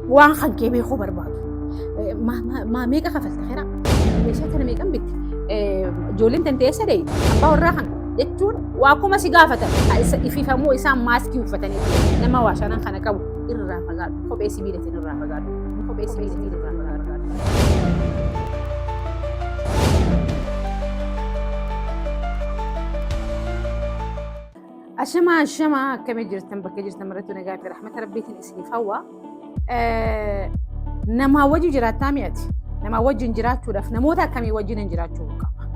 Waan kan kee beekuu barbaadu. Maa meeqa kafalta keraa? Meeshaa kana meeqan bitti? Ijoolleen tantee eessa deeyi? Abbaa warraa kan jechuun waa kuma si gaafatan. Ififamuu isaan maaskii uffatanii nama waa shanan kana qabu irraa fagaadhu. Kophee sibiilatiin irraa fagaadhu. Kophee sibiilatiin irraa fagaadhu. Ashama ashama akkamii jirtan bakka jirtan marattuu nagaa fi rahmata rabbiitiin isiniif hawwa. Namaa wajjin jiraattaa mi'ati. Namaa wajjin jiraachuudhaaf namoota akkamii wajjin hin jiraachuu qaba.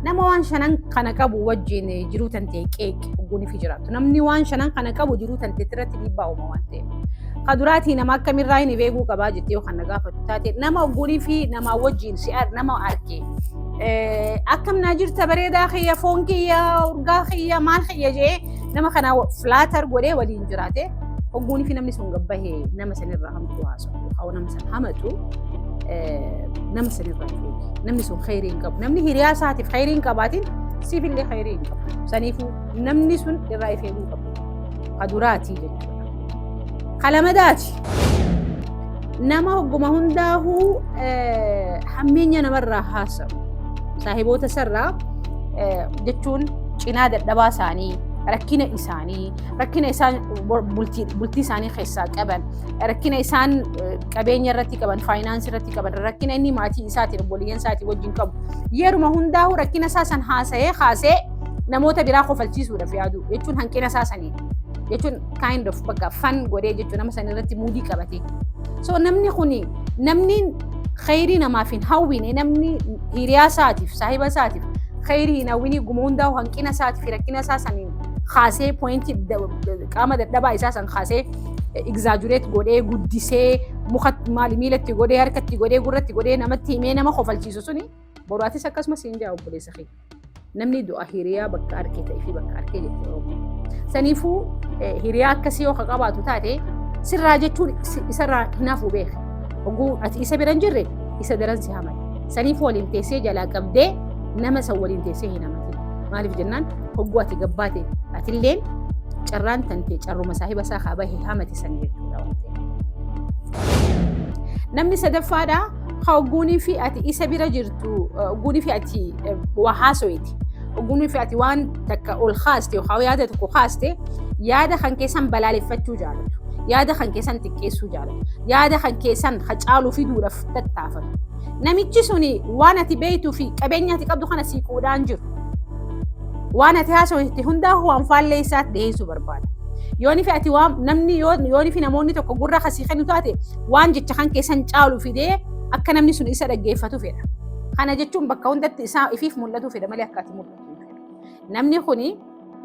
Nama waan shanan kana qabu wajjin jiruu tantee qeeqe ogguun fi jiraattu. Namni waan shanan kana qabu jiruu tantee irratti dhiibbaa uuma waan ta'eef. Ka duraatii nama akkamirraa hin beekuu qabaa jettee yoo kan na gaafatu taate nama ogguun fi namaa wajjin si'a nama argee Akkam naa jirta bareedaa kiyya foon kiyya urgaa kiyya maal kiyya jee nama kana filaatar godhee waliin jiraate hogguunii fi namni sun gabbahee nama sanirraa hamtuu haasa'u haa nama san hamatu nama sanirraa eegi namni sun khayrii hin qabu namni hiriyaa isaatiif khayrii hin qabaatiin siif illee khayrii hin qabu saniifuu namni sun irraa ifeeguu qabu kaduraatii jechuudha kalamadaati. Nama hogguma hundaahuu hammeenya namarraa haasa'u. Saahiboota isarraa jechuun cinaa dadhabaa isaanii, rakkina isaanii, rakkina isaan bultii isaanii keessaa qaban, rakkina isaan qabeenya irratti qaban, faayinaansii irratti qaban, rakkina inni maatii isaatiin, obboleeyyan isaatiin wajjin qabu. Yeruma hundaahuu rakkina isaa san haasa'ee kaasee namoota biraa kofalchiisuudhaaf yaadu jechuun hanqina isaa saniidha. Jechuun kind of bakka fan godhee jechuudha nama san irratti muudii qabatee. So namni kuni namni khayrii namaaf hin hawwine namni hiriyaa isaatiif saahiba isaatiif khayrii hin hawwinii guma hundaa hanqina isaatiif rakkina isaa saniin kaasee poointii qaama dadhabaa isaa san kaasee egzaajureet godhee guddisee muka maali miilatti godhee harkatti godhee gurratti godhee namatti himee nama kofalchiisu suni boraatis akkasumas hin jaa obboleessa kee. Namni du'a hiriyaa bakka arkee ta'ee fi bakka arkee jetti Oromoon. Saniifuu eh, hiriyaa akkasii yoo ka qabaatu taate sirraa jechuun si- isarraa hinaafuu beeka. Oguu ati isa bira hin jirre isa daran si hamata. Saniifuu waliin teessee jalaa qabdee nama isa waliin teessee hin hamatin. Maaliif jennaan hogguu ati gabbaate atilleen carraan tantee carruma saahiba isaa haa bahe hamate san jechuudha. waan ta'eef. Namni sadaffaadhaa Ka ogguunii fi ati isa bira jirtu ogguunii fi ati waa haasoyiti. Ogguunii fi ati waan takka ol kaaste yookaan yaada tokko kaaste yaada kan keessan balaaleffachuu jaalatu. Yaada kan keessan xiqqeessuu jaalatu. Yaada kan keessan ka caalu fiduudhaaf tattaafatu. Namichi suni waan ati beektuu fi qabeenya ati qabdu kana sii qoodaan jiru. Waan ati haasoyiti hundaa waan faallee isaatti dhiyeessuu barbaada. Yoonii fi ati waan namni yoonii fi namoonni tokko gurra kasii kennu taate waan jecha kan keessan caalu fidee akka namni sun isa dhaggeeffatu fedha. Kana jechuun bakka hundatti isaa ifiif mul'atu fedha malee akka ati mul'atu hin fedhu. Namni kuni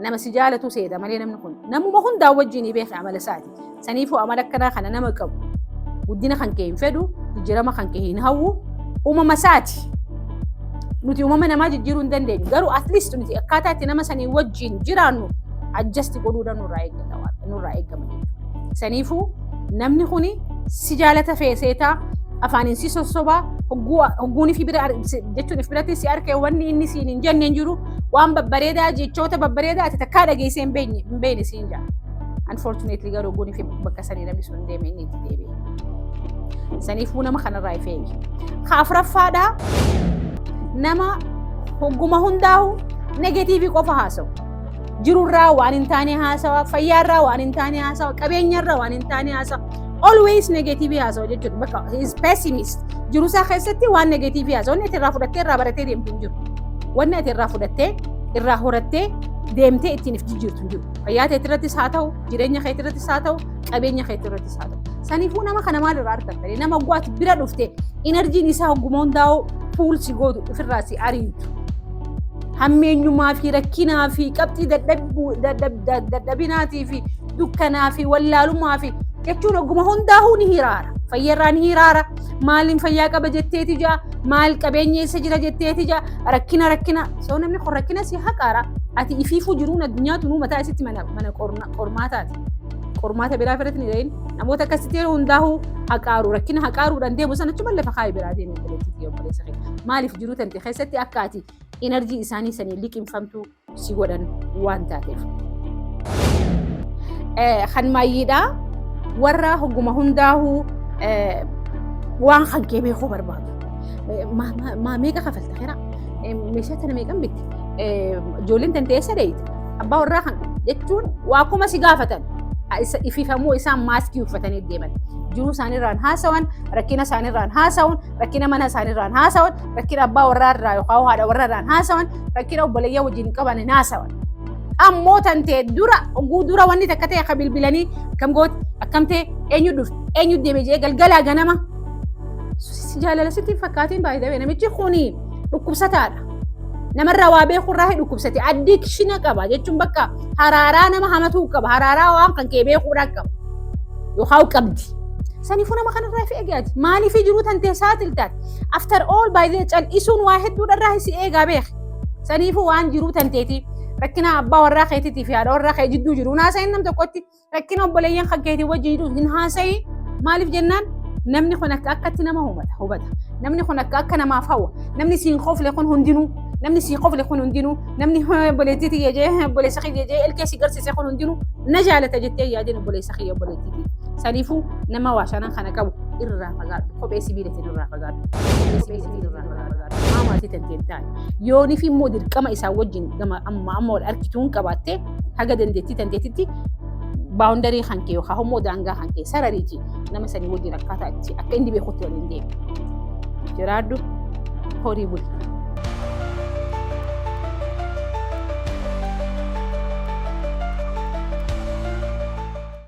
nama si jaalatu seeta malee namni kun namuma hundaa wajjin ni beeka amala isaati. Saniifuu amala akkanaa kana nama qabu guddina kan kee hin fedhu jijjiirama kan kee hin hawwu uumama isaati. Nuti uumama namaa jijjiiruu hin dandeenyu garuu at least nuti akkaataa itti nama sanii wajjin jiraannu adjust godhuu nurraa eeggata waan nurraa eeggama jechuudha. Saniifuu Namni kuni si jaalata fee seetaa afaaniin si sossobaa hogguun fi bira jechuun if biratti si arkee wanni inni siin hin jenne hin jiru waan babbareedaa jechoota babbareedaa ati takkaa dhageessee hin beekne hin beekne siin jaa. Unfortunately garuu hogguun fi bakka sanii namni sun deeme inni itti deebi'e. Saniifuu nama kanarraa if eegi. Ka afuraffaadhaa nama hogguma hundaa'u negatiivii qofa haasa'u. jirurraa waan hin taane haasawa, fayyaarraa waan hin taane haasawa, qabeenyarraa waan hin taane haasawa. Always negative haasawa jechuudha. Bakka is pessimist. Jirusaa keessatti waan negative haasawa. Wanni ati irraa fudhattee irraa baratee deemtu hin jiru. Wanni ati irraa fudhattee irraa horattee deemtee ittiin if jijjiirtu hin jiru. Fayyaa keetii irrattis haa ta'u, jireenya keetii irrattis haa ta'u, qabeenya keetii irrattis haa ta'u. Saniifuu nama kana maal irraa argattanii nama oggaati bira dhufte inarjiin isaa ogguma hundaa'u puulsi gootu ofirraa si ariitu. hammeenyumaa fi rakkinaa fi qabxii dadhabinaatii fi dukkanaa fi wallaalumaa fi jechuun ogguma hundaa'uu ni hiraara. Fayyarraa ni hiraara. Maaliin fayyaa qaba jetteeti jaa maal qabeenya eessa jira jetteeti jaa rakkina rakkina soo namni kun rakkina si haqaara ati ifiifuu jiruun addunyaa tunuu mataa isitti mana mana qormaataati. Qormaata biraa irratti ni dhahin namoota akkasitti hundaa'uu haqaaru rakkina haqaaruudhaan deemu sana achuma lafa kaa'ee biraa deemu obboleettii fi obboleessa keenya maaliif jiruu tante keessatti akka ati energy isaanii sanii liqimfamtuu si godhan waan taateef. Kan maayyiidha warra hogguma hundaahuu waan kan kee beekuu barbaadu. Maa meeqa kafalta kira? Meeshaa tana meeqan bitti? Ijoolleen tantee eessa deeyte? Abbaa warraa kan jechuun waa kuma si gaafatan. Ififamuu isaan maaskii uffatanii deeman. Jiruu isaaniirraan haasawan, rakkina isaaniirraan haasawun, rakkina mana isaaniirraan haasawan, rakkina abbaa warraa irraa yookaan haadha warraa irraan haasawan, rakkina obboleeyyaa wajjin qaban hin haasawan. Ammoo tan ta'e dura oguu dura wanni takka ta'e akka bilbilanii akkam gooti akkam ta'e eenyu dhufte eenyu deeme jedhee galgalaa ganama si jaalala sitti hin fakkaatiin baay'ee ta'e namichi kuni dhukkubsataadha. namarraa waa beekurraa hin dhukkubsate addikshina qaba jechuun bakka haraaraa nama hamatuu qaba haraaraa waan kan kee beekuudhaa qaba yookaan qabdi. Saniifuu nama kanarraa fi eegaati maaliif jiruu tantee saaxiltaati after all by the cal'isuun waa hedduudharraa si eegaa beeki saniifuu waan jiruu tanteeti rakkinaa abbaa warraa keetiitii fi haadha warraa kee jidduu jiru naasaa inni nam tokkotti Rakkina obboleeyyan kakkeetii wajjin hin haasayi. Maaliif jennaan namni kun akka akkatti nama hubata. hubata. Namni kun akka akka namaaf hawwa. Namni siin kofle kun hundinuu. Namni siin kofle kun hundinuu. Namni obboleettii tiyya jee obboleessa kiyya jee ilkee si garsiise kun hundinuu na jaalata jettee yaadin obboleessa kiyya obboleettii tiyya. Saniifuu nama waa shanan kana qabu irraa fagaadhu. Kophee sibiilatiin irraa fagaadhu. Kophee sibiilatiin irraa fagaadhu. Maatii tanteen taa'e. Yoonif immoo dirqama isaa wajjin gama amma amma wal argituun qabaattee haga dandeettii tanteetitti baawundarii kan kee yookaan immoo daangaa kan kee sarariiti nama sanii wajjin akkaataa itti akka inni beekutti waliin deemu. Jiraadhu horii buli.